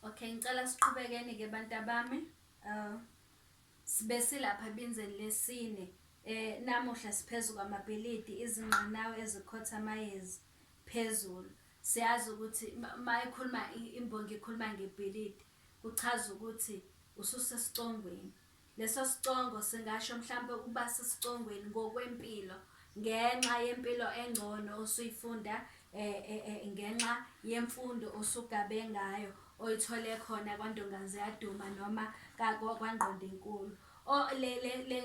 Okay, ngicela siqhubekeni ke bantabami. Uh sibe silapha ebinzeni lesine. Eh namuhla siphezu kwamabhilidi izingqanawe ezikhotha amayezi phezulu. Siyazi ukuthi mayikhuluma imbongi ikhuluma ngebhilidi kuchaza ukuthi ususesicongweni. Lesosicongo singasho mhlampe ukuba sesicongweni ngokwempilo ngenxa yempilo engcono osuyifunda ngenxa yemfundo osugabe ngayo oyithole khona kwaNdongaziyaduma noma kwaNgqondinkulu.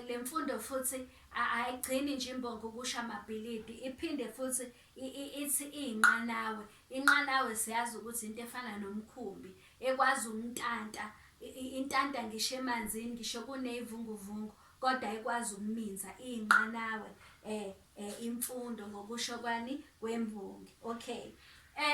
Lemfundo futhi ayigcini nje imbongi ukusha amabhilidi iphinde futhi Ithi iyinqanawe. Inqanawe siyazi ukuthi into efana nomkhumbi ekwazi umntanta intanta ngisho emanzini ngisho kuney'vunguvungu kodwa ikwazi ukuminza iyinqanawe imfundo ngokusho kwani kwembongi. Okay.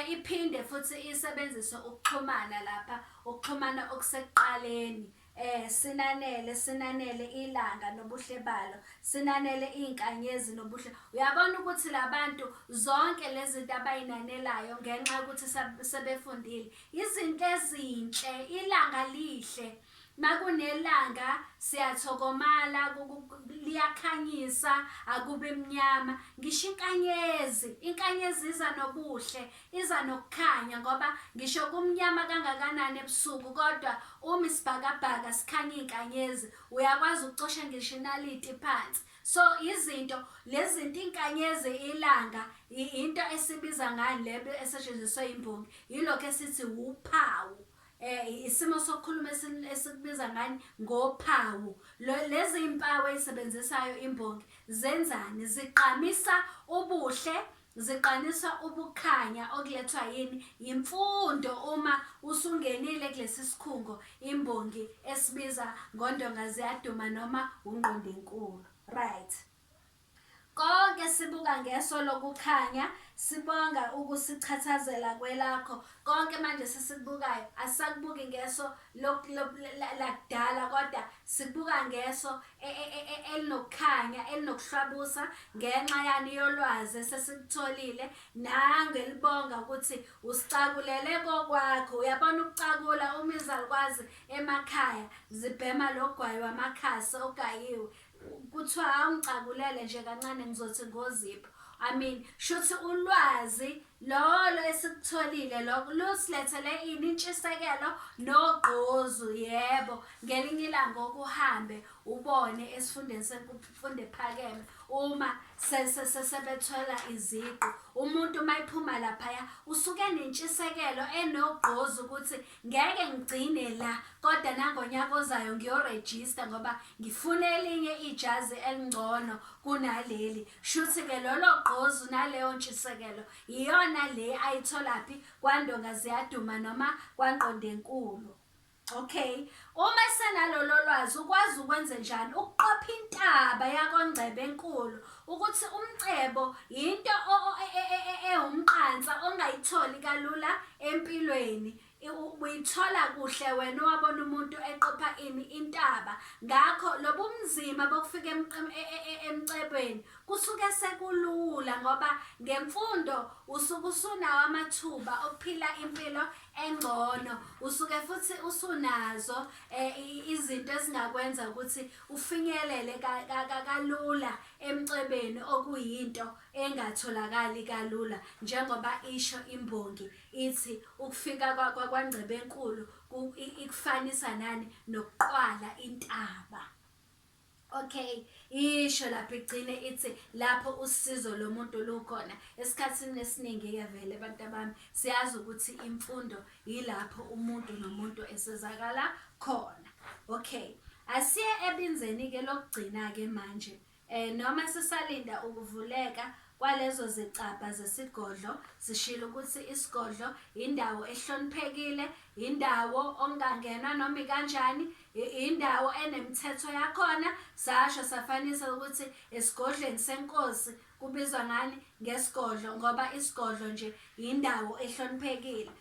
Iphinde futhi isebenzise ukuxhumana lapha, ukuxhumana okusekuqaleni. Eh, sinanele, sinanele ilanga nobuhle balo, sinanele iy'nkanyezi nobuhle. Uyabona ukuthi labantu zonke lezi zinto abayinanelayo ngenxa yokuthi sab- sebefundile, izinto ezinhle, ilanga lihle. Makunelanga siyathokomala, ku- ku- ku- liyakhanyisa, akubi mnyama. Ngisho inkanyezi, inkanyezi iza nobuhle, Iza nokukhanya ngoba ngisho kumnyama kangakanani ebusuku kodwa uma isibhakabhaka sikhanya inkanyezi uyakwazi ukucosha ngisho inaliti phansi. So izinto lezinto inkanyezi ilanga into esibiza ngani lebe esetshenziswe imbongi yilokho esithi uphawu. Eh isimo sokukhuluma esikubiza ngani ngophawu. Lezi impawu ezisebenzisayo imbongi zenzani ziqamisa ubuhle Ziqanisa ubukhanya okulethwa yini yimfundo uma usungenile kulesi sikhungo imbongi esibiza ngoNdonga Ziyaduma noma uNgqondenkulu. Right. Konke sibuka ngeso lokukhanya, sibonga ukusichathazela kwelakho. Konke manje sisikubukayo asisakubuki ngeso lakudala kodwa sikubuka ngeso e, e, e, elinokukhanya elinokuhlabusa ngenxa yani yolwazi esesilitholile nangelibonga ukuthi usicakulele kokwakho uyabona ukucakula uma izalukwazi emakhaya zibhema logwayi wamakhasi ogayiwe kuthiwa awungicakulele nje kancane ngizothi ngozipho I mean shuthi ulwazi Lolo esikutholile lokho lusilethele ini intshisekelo nogqozu yebo ngelinye ilanga okuhambe ubone esifundeni semfundo ephakeme uma sebethola iziqu umuntu uma ephuma laphaya usuke nentshisekelo enogqozu ukuthi ngeke ngigcine la kodwa nangonyaka ozayo ngiyorejista ngoba ngifuna elinye ijazi elingcono kunaleli Shuthi ke lolo gqozu naleyo ntshisekelo iyona le ayitholaphi kwandonga ziyaduma noma kwangqondenkulu. Okay, uma senalolo lwazi ukwazi ukwenze njani ukuqopha intaba yakongcebe enkulu ukuthi umcebo yinto e, e, e, ewumqansa ongayitholi kalula empilweni Uyithola kuhle wena owabona umuntu eqopha ini intaba ngakho lobumzima bokufika e, e, e, emcebweni kusuke sekulula ngoba ngemfundo usuke usunawo amathuba okuphila impilo engcono usuke futhi usunazo izinto ezingakwenza ukuthi ufinyelele kalula emcebeni okuyinto engatholakali kalula njengoba isho imbongi Ithi ukufika kwaNgqebenkulu ikufanisa nani nokuqwala intaba. Okay, isho lapho igcine ithi lapho usizo lomuntu lukhona. Esikhathini esiningi-ke vele abantu abami siyazi ukuthi imfundo yilapho umuntu nomuntu esizakala khona. Okay, asiye ebinzeni-ke lokugcina-ke manje. Noma sisalinda ukuvuleka kwalezo zicabha zesigodlo, sishilo ukuthi isigodlo yindawo ehloniphekile, yindawo okungangenwa noma ikanjani, yindawo enemithetho yakhona. Sasho safanisa ukuthi esigodlweni senkosi kubizwa ngani? ngesigodlo ngoba isigodlo nje yindawo ehloniphekile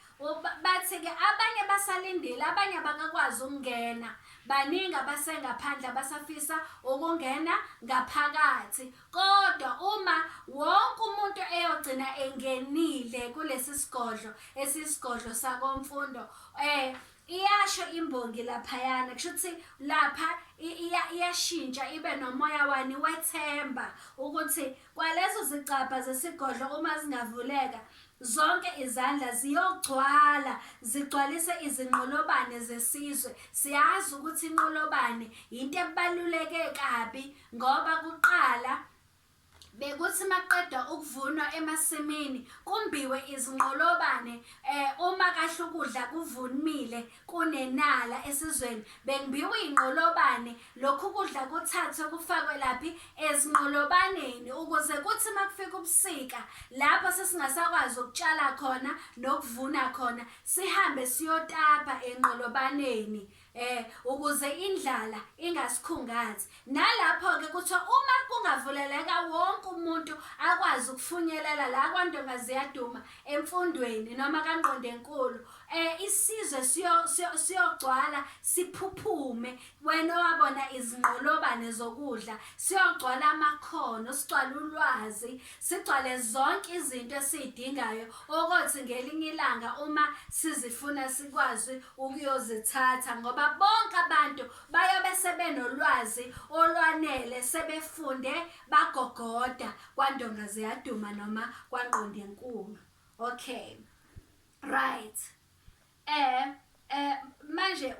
bathi-ke abanye basalindile abanye abakakwazi ukungena baningi abasengaphandle abasafisa ukungena ngaphakathi kodwa uma wonke umuntu eyogcina engenile kulesi sigodlo esisigodlo sakomfundo um iyasho imbongi laphayana kusho ukuthi lapha iyashintsha ibe nomoya wani wethemba ukuthi Kwaleso sicabha zesigodlo uma zingavuleka, zonke izandla ziyogcwala zigcwalise izinqolobane zesizwe. Siyazi ukuthi inqolobane yinto ebaluleke kabi ngoba kuqala bekuthi maqedwa ukuvunwa emasimini kumbiwe izinqolobane eh uma kahle ukudla kuvunimile kunenala esizweni bengibiwa inqolobane lokhu kudla kuthathwe kufakwe laphi ezinqolobaneni ukuze kuthi makufika ubusika lapho sesingasakwazi ukutshala khona nokuvuna khona sihambe siyotapa enqolobaneni eh ukuze indlala ingasikhungathi Nalapho-ke kuthiwa uma kungavuleleka wonke umuntu akwazi ukufunyelela la kwaNdonga Ziyaduma emfundweni noma kaNgqondenkulu um isizwe siyogcwala siphuphume wena owabona izinqolobane zokudla siyogcwala amakhono sigcwale ulwazi sigcwale zonke izinto esiyidingayo okothi ngelinye ilanga uma sizifuna sikwazi ukuyozithatha ngoba bonke abantu bayobe sebenolwazi olwanele sebefunde bagogoda kwandonga ziyaduma noma kwangqondo enkulu okay right eh eh manje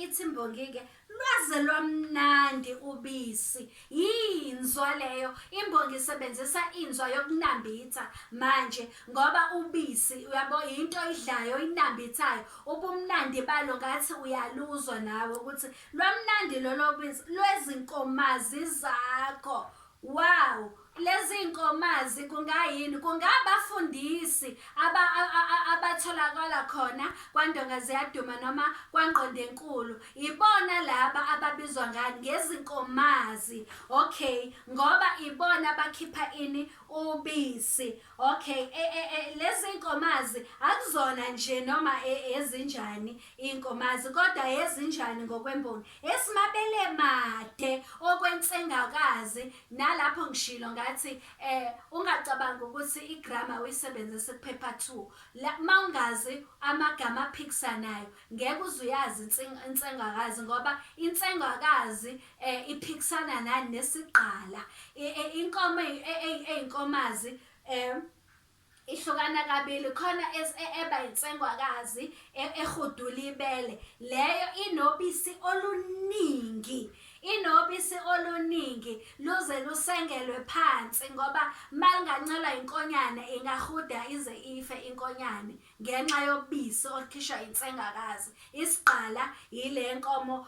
ithi imbongi ke lwaze lwamnandi ubisi Yinzwa leyo imbongi isebenzisa inzwa yokunambitha manje ngoba ubisi uyabo yinto idlayo inambithayo ubumnandi balo ngathi uyaluzwa nawe ukuthi lwamnandi lolo bisi lwezinkomazi zakho wow lezi nkomazi kungayini kungabafundisi abatholakala khona kwandonga ziyaduma noma kwangqondenkulu Ibona laba ababizwa ngani ngezinkomazi okay ngoba ibona bakhipha ini ubisi okay e, e, e, lezi nkomazi akuzona nje noma e, ezinjani inkomazi kodwa ezinjani ngokwemboni esimabele made okwensengakazi nalapho ngishilo ngathi eh ungacabanga ukuthi igrama uyisebenzise kuphepha 2 la mawungazi amagama aphikisanayo Ngeke uze uyazi intseng- insengwakazi ngoba insengwakazi eh, iphikisana nani nesigqala I- i- inkomo eyi- e- eyi- eyinkomazi um ihlukana kabili khona es- e- eba insengwakazi e- ehudula ibele leyo inobisi oluningi inobisi oluningi luze lusengelwe phansi ngoba malingancelwa inkonyane ingahuda ize ife inkonyane ngenxa yobisi olukhishwa insengakazi isigqala yile nkomo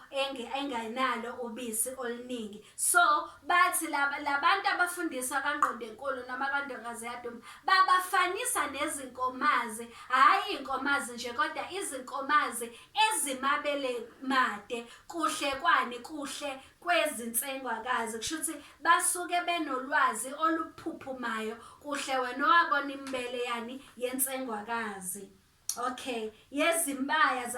engenalo ubisi oluningi so bathi labantu abafundisa kangqondenkulu noma kandongazi yaduma babafanisa nezinkomazi hhayi iy'nkomazi nje kodwa izinkomazi ezimabele made kuhle kwani kuhle kwezinsengwakazi kusho ukuthi basuke benolwazi oluphuphumayo kuhle wena owabona imbele yani yensengwakazi okay yezimbaya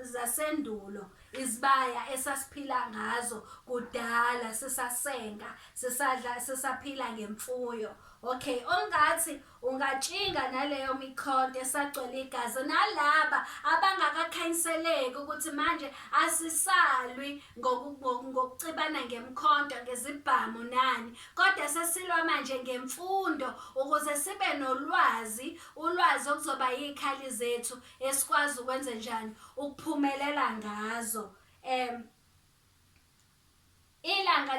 zasendulo izibaya esasiphila ngazo kudala sisasenga sisadla sisaphila ngemfuyo okay ongathi Ungatshinga naleyo mikhonto esagcwele igazi nalaba abangakakhanyiseleki ukuthi manje asisalwi ngokucibana ngemkhonto ngezibhamu nani kodwa sesilwa manje ngemfundo ukuze sibe nolwazi ulwazi okuzoba yikhali zethu esikwazi ukwenze njani ukuphumelela ngazo um Ilanga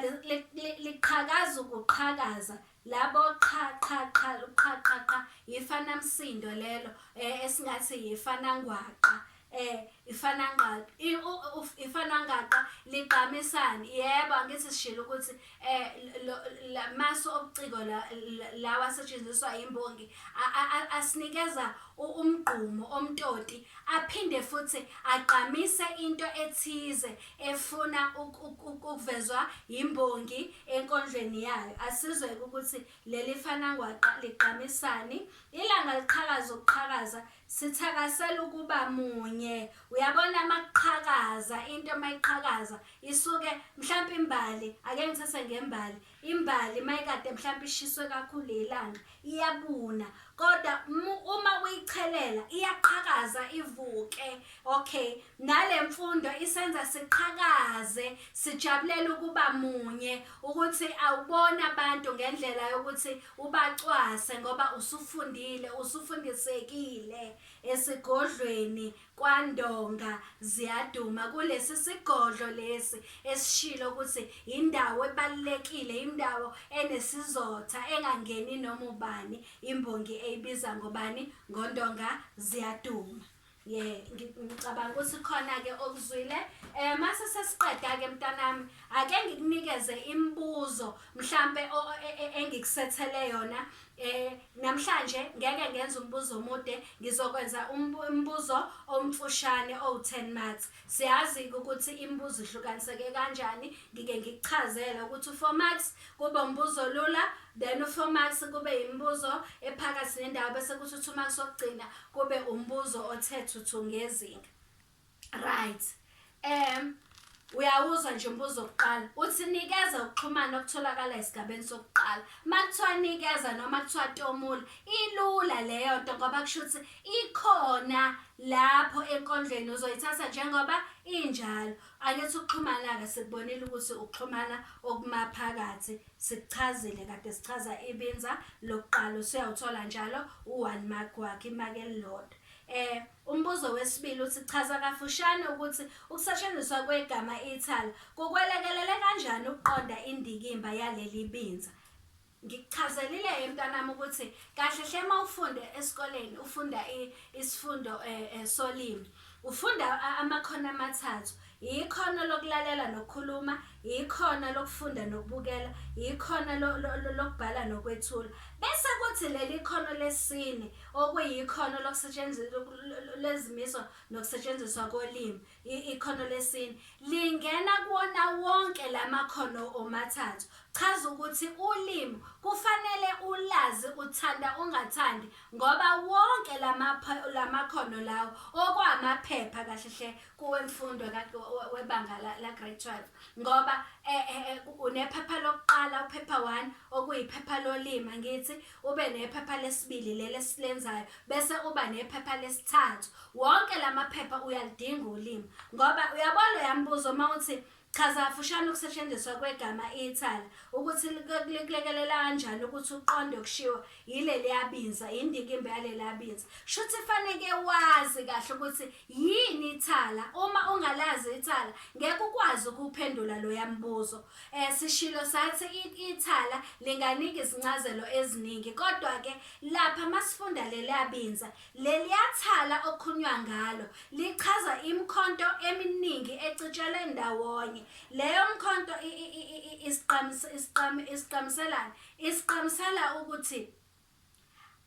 liqhakaza ukuqhakaza labo qha qha qha qha qha qha yifanamsindo lelo eh, esingathi yifanangwaqa eh ifanangaqa ifanangaqa ligqamisani yebo angithi sishilo ukuthi eh maso obuciko lawa asetshenziswa imbongi asinikeza umgqumo omtoti aphinde futhi agqamise into ethize efuna ukuvezwa yimbongi enkondlweni yayo. Asizwe-ke ukuthi leli fanangwaqa ligqamisani. Ilanga liqhakaza ukuqhakaza, sithakasela ukuba munye. Uyabona uma kuqhakaza into uma iqhakaza isuke mhlampe imbali, ake ngithathe ngembali, Imbali uma ikade mhlawumbe ishiswe kakhulu ilanga iyabuna kodwa uma uyichelela iyaqhakaza ivuke okay nale mfundo isenza siqhakaze sijabulela ukuba munye ukuthi awubona abantu ngendlela yokuthi ubacwase ngoba usufundile usufundisekile esigodlweni KwaNdonga ziyaduma kulesi sigodlo lesi esishilo ukuthi yindawo ebalulekile, indawo enesizotha engangeni noma ubani, imbongi eyibiza ngobani? NgoNdonga ziyaduma. Ye ngicabanga ukuthi khona-ke okuzwile um mase sesiqeda-ke mntanami ake ngikunikeze imibuzo mhlampe e, e, engikusethele yona Eh, namhlanje ngeke ngenze umbuzo omude, ngizokwenza umbuzo omfushane owu-10 maths. Siyazi-ke ukuthi imibuzo ihlukaniseke kanjani, ngike ngikuchazele ukuthi u-4 marks kube umbuzo olula, then u-4 marks kube imibuzo ephakathi nendawo bese kuthi u-2 marks wokugcina kube umbuzo othe thuthu ngezinga. Right. Um uyawuzwa nje umbuzo wokuqala uthi nikeza ukuxhumana okutholakala esigabeni sokuqala uma kuthiwa nikeza noma kuthiwa tomula ilula leyo nto ngoba kusho ukuthi ikhona lapho enkondlweni uzoyithatha njengoba injalo angithi ukuxhumana-ke sikubonile ukuthi ukuxhumana okumaphakathi sikuchazile kade sichaza ibinza lokuqala usuyawuthola njalo u-one mark wakhe imaki elilodwa um Umbuzo wesibili uthi chaza kafushane ukuthi ukusetshenziswa kwegama ithala kukwelekelele kanjani ukuqonda indikimba yaleli binza. Ngikuchazelile-ke mntanami ukuthi kahle hle uma ufunde esikoleni ufunda isifundo um solimi, ufunda amakhono amathathu. Yikhono lokulalela nokukhuluma, yikhona lokufunda nokubukela, yikhona lo, lo, lo, lokubhala nokwethula. Bese kuthi leli khono lesine okuyikhono lokusetshenziswa lezimiso nokusetshenziswa kolimi, i- ikhono lesine lingena kuwona wonke lamakhono omathathu. Chaza ukuthi ulimi kufanele ulazi uthanda ungathandi ngoba wonke lama lamakhono lawo okwamaphepha kahle hle kowemfundo webanga la-grade 12 ngoba eh, eh, eh, unephepha lokuqala uphepha one okuyiphepha lolima ngithi ube nephepha lesibili leli esilenzayo bese uba nephepha lesithathu wonke la maphepha uyalidinga ulimi ngoba uyabona uyambuza uma uthi Chaza kafushane ukusetshenziswa kwegama ithala, ukuthi likulekelela kanjani ukuthi uqonde okushiwo yileliya binza, yindikimba yaleliya binza. Shuthi faneke wazi kahle ukuthi yini ithala. Uma ungalazi ithala, ngeke ukwazi ukuphendula loya mbuzo. Eh sishilo sathi ithala linganika izincazelo eziningi, kodwa-ke lapha masifunda leliya binza, Leliya thala okukhulunywa ngalo lichaza imikhonto eminingi ecitshelwe ndawonye. Leyo mkhonto isiqamiselani? Isiqamisela ukuthi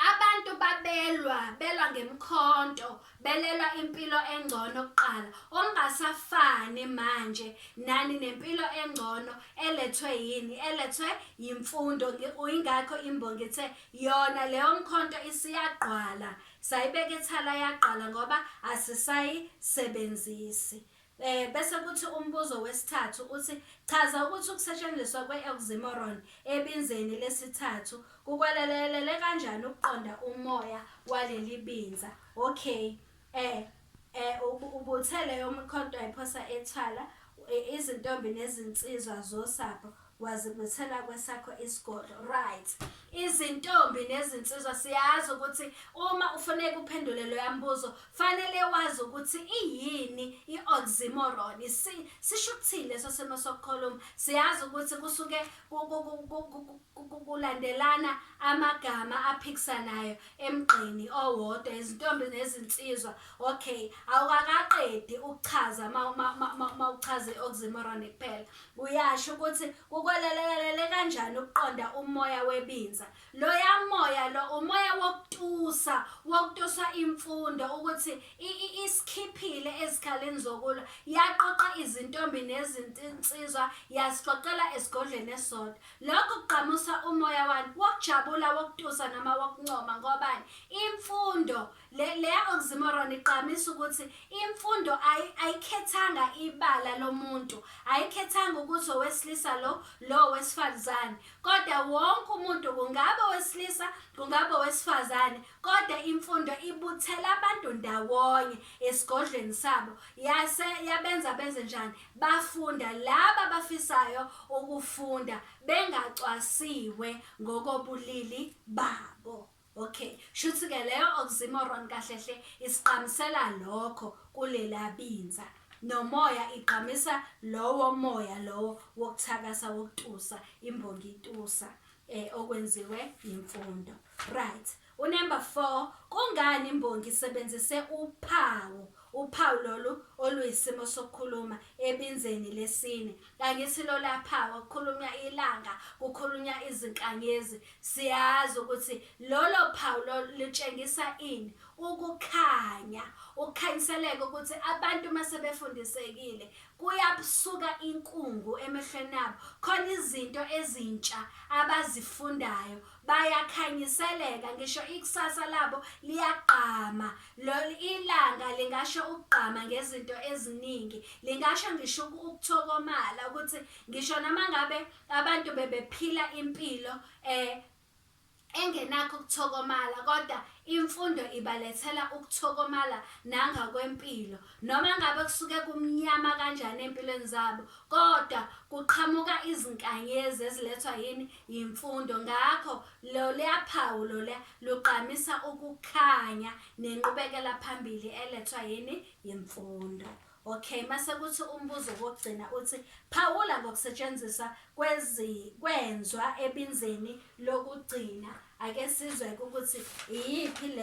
abantu babelwa belwa ngemikhonto belelwa impilo engcono kuqala ongasafani manje nani nempilo engcono elethwe yini elethwe yimfundo uyingakho imbongi ithe Yona leyo mkhonto isiyagqwala sayibeka ethala yagqala ngoba asisayisebenzisi. Eh bese kuthi umbuzo wesithathu uthi chaza ukuthi ukusetshenziswa kwe-oxymoron ebinzeni lesithathu kukwalelelele kanjani ukuqonda umoya waleli binza. Okay. Eh eh ubuthe leyo mkhonto ayiphosa ethwala izintombi nezinsizwa zosapho wazibuthela kwesakho isigodlo right izintombi nezinsizwa siyazi ukuthi uma ufuneka uphendule lo yambuzo fanele wazi ukuthi iyini i-oxymoron sisho ukuthini leso simo sokukhuluma siyazi ukuthi kusuke kulandelana amagama aphikisanayo emgqeni owodwa izintombi nezinsizwa okay awukakaqedi ukuchaza uma uchaze oxymoron kuphela uyasho ukuthi kukwelelelele kanjani ukuqonda umoya webinza loya moya lo umoya wokutusa wokutusa imfundo ukuthi isikhiphile ezikhaleni zokulwa yaqoqa izintombi nezinsizwa yasixoxela esigodlweni esodwa Lokhu kugqamusa umoya wani wokujabula, wokutusa noma wokuncoma. Ngobani? Imfundo le, le ya-oxymoron igqamisa ukuthi imfundo ayi, ayikhethanga ibala lomuntu, ayikhethanga ukuthi owesilisa lo, lo owesifazane, kodwa wonke umuntu, kungabe owesilisa, kungabe owesifazane, kodwa imfundo ibuthela abantu ndawonye esigodlweni sabo, yase yabenza benze njani? Bafunda laba abafisayo ukufunda bengacwasiwe ngokobulili babo. Okay, shuthi ke leyo oxymoron kahle hle isiqhamisela lokho kulela binza. Nomoya igqamisa lowo moya lowo wokuthakasa wokutusa imbongi itusa eh okwenziwe imfundo. Right. Unumber 4, Kungani imbongi isebenzise uphawu, uphawu lolu oluyisimo sokukhuluma, ebinzeni lesine? Angithi lolaa phawu kukhulunywa ilanga, kukhulunywa izinkanyezi. Siyazi ukuthi lolo phawu lolu lutshengisa ini? Ukukhanya. Ukukhanyiseleka ukuthi abantu uma sebefundisekile kuyabsuka inkungu emehlweni abo. Khona izinto ezintsha abazifundayo, bayakhanyiseleka ngisho ikusasa labo liyagqama lolu ilanga lingasho ukugqama ngezinto eziningi lingasho ngisho ukuthokomala ukuthi ngisho noma ngabe abantu bebephila impilo eh engenakho ukuthokomala kodwa imfundo ibalethela ukuthokomala nangakwempilo Noma ngabe kusuke kumnyama kanjani empilweni zabo, kodwa kuqhamuka izinkanyezi ezilethwa yini? Yimfundo. Ngakho loluya phawu loluya lugqamisa ukukhanya nenqubekela phambili elethwa yini? Yimfundo. Okay, mase kuthi umbuzo wokugcina uthi phawula ngokusetshenziswa kwezi kwenzwa ebinzeni lokugcina. Ake sizwe ukuthi iyiphi le